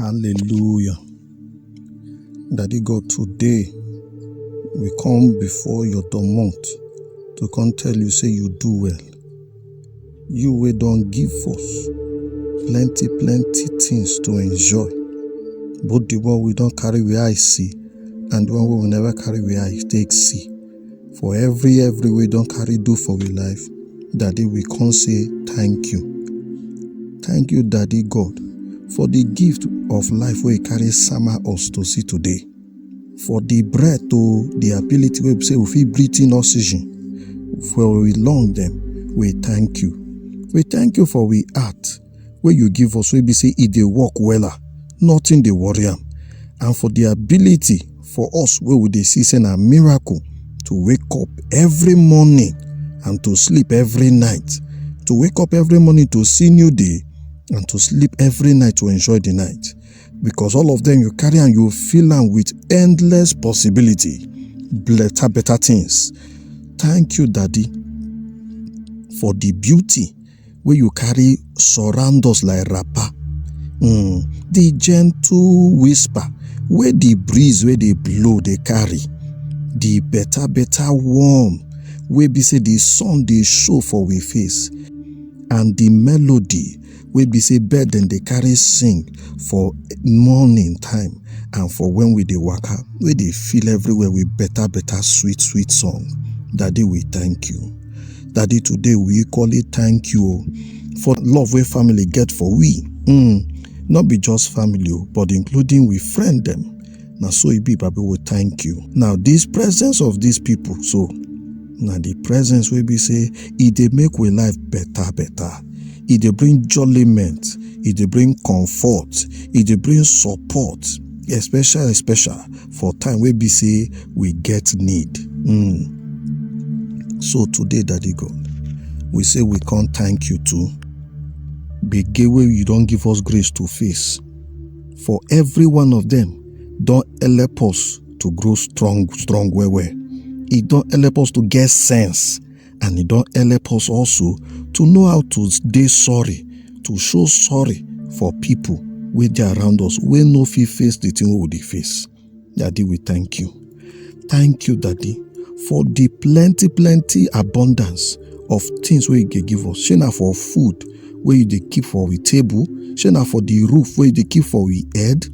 Hallelujah. Daddy God, today we come before your domot to come tell you say you do well. You wey don give us plenty plenty things to enjoy. Both the one we don carry we eye see and the one wey we never carry we eye take see. for every every wey don carry do for we life daddy we come say thank you thank you daddy god for the gift of life wey carry sama us to see today for the breath o the ability wey be say we fit breathe in oxygen for we lung dem we thank you we thank you for we heart wey you give us wey be say e dey work wella nothing dey worry am and for the ability for us wey we dey see say na miracle to wake up every morning and to sleep every night to wake up every morning to see new day and to sleep every night to enjoy the night because all of them you carry and you fill am with endless possibility better better things thank you daddy for the beauty wey you carry surround us like wrapper um the gentle whisper wey the breeze wey dey blow dey carry the better better warm wey be say the sun dey show for we face and the melody wey be say bird dem dey carry sing for morning time and for when we dey waka wey dey fill everywhere with better better sweet sweet song daddy we thank you. Daddy, today we equally thank you o, for love wey family get for we. Mm, no be just family o, but including we friend dem. Na so e be, Baba, we thank you. Now, this presence of these people, so na the presence wey be say e dey make we life better, better. E dey bring jolliment, e dey bring comfort, e dey bring support, especially, especially for time wey be say we get need. Mm. So today, Daddy God, we say we can't thank you too. Begin where you don't give us grace to face. For every one of them, don't help us to grow strong, strong, well, well. It don't help us to get sense and e don help us also to know how to dey sorry to show sorry for people wey dey around us wey no fit face the thing wey we dey face daddy we thank you thank you daddy for the plenty plenty abundance of things wey you dey give us shey na for food wey you dey keep for we table shey na for the roof wey you dey keep for we head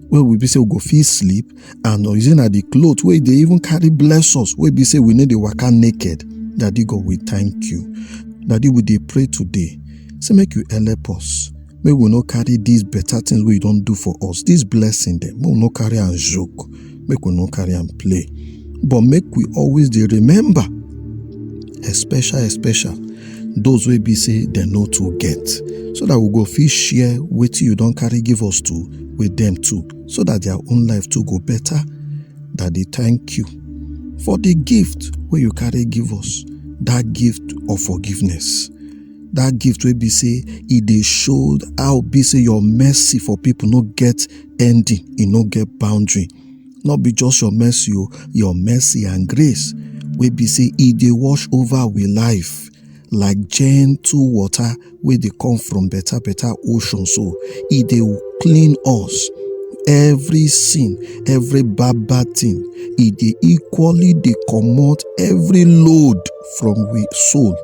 wey we be say we go fit sleep and oyize na the cloth wey dey even carry bless us wey be say we no dey waka naked daddy god we thank you daddy we dey pray today say make you help us make we no carry these better things wey you don do for us this blessing dem make we no carry am joke make we no carry am play but make we always dey remember especial especial those wey be say dem no too get so that we go fit share wetin you don carry give us to with dem too so that their own life too go better. Daddy, thank you for the gift wey you carry give us, that gift of forgiveness. That gift wey be say e dey show how be say your mercy for people no get ending, e no get boundary. No be just your mercy o, your mercy and grace wey be say e dey wash over we life. like gentle water wey dey come from better better ocean so e dey clean us every sin every bad bad thing e dey equally dey comot every load from we soul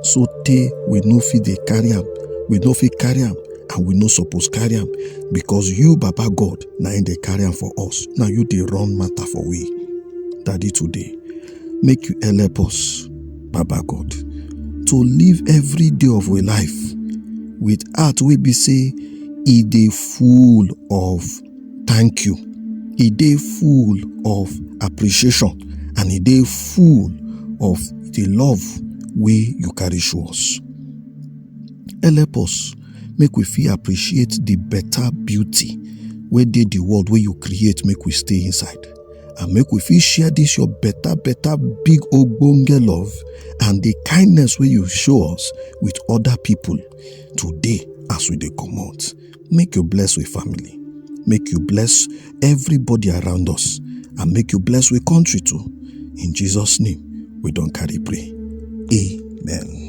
so tey we no fit dey carry am we no fit carry am and we no suppose carry am because you baba god na im dey carry am for us na you dey run matter for we daddy today make you help us Baba God, to live every day of we life with heart wey be say e dey full of thank you, e dey full of appreciation and e dey full of the love wey you carry show us. Help us make we fit appreciate the better beauty wey dey the world wey you create make we stay inside. and make we fit share this your better better big ogbonge love and the kindness wey you show us with other people today as we dey comot make you bless we family make you bless everybody around us and make you bless we country too in jesus name we don carry pray amen.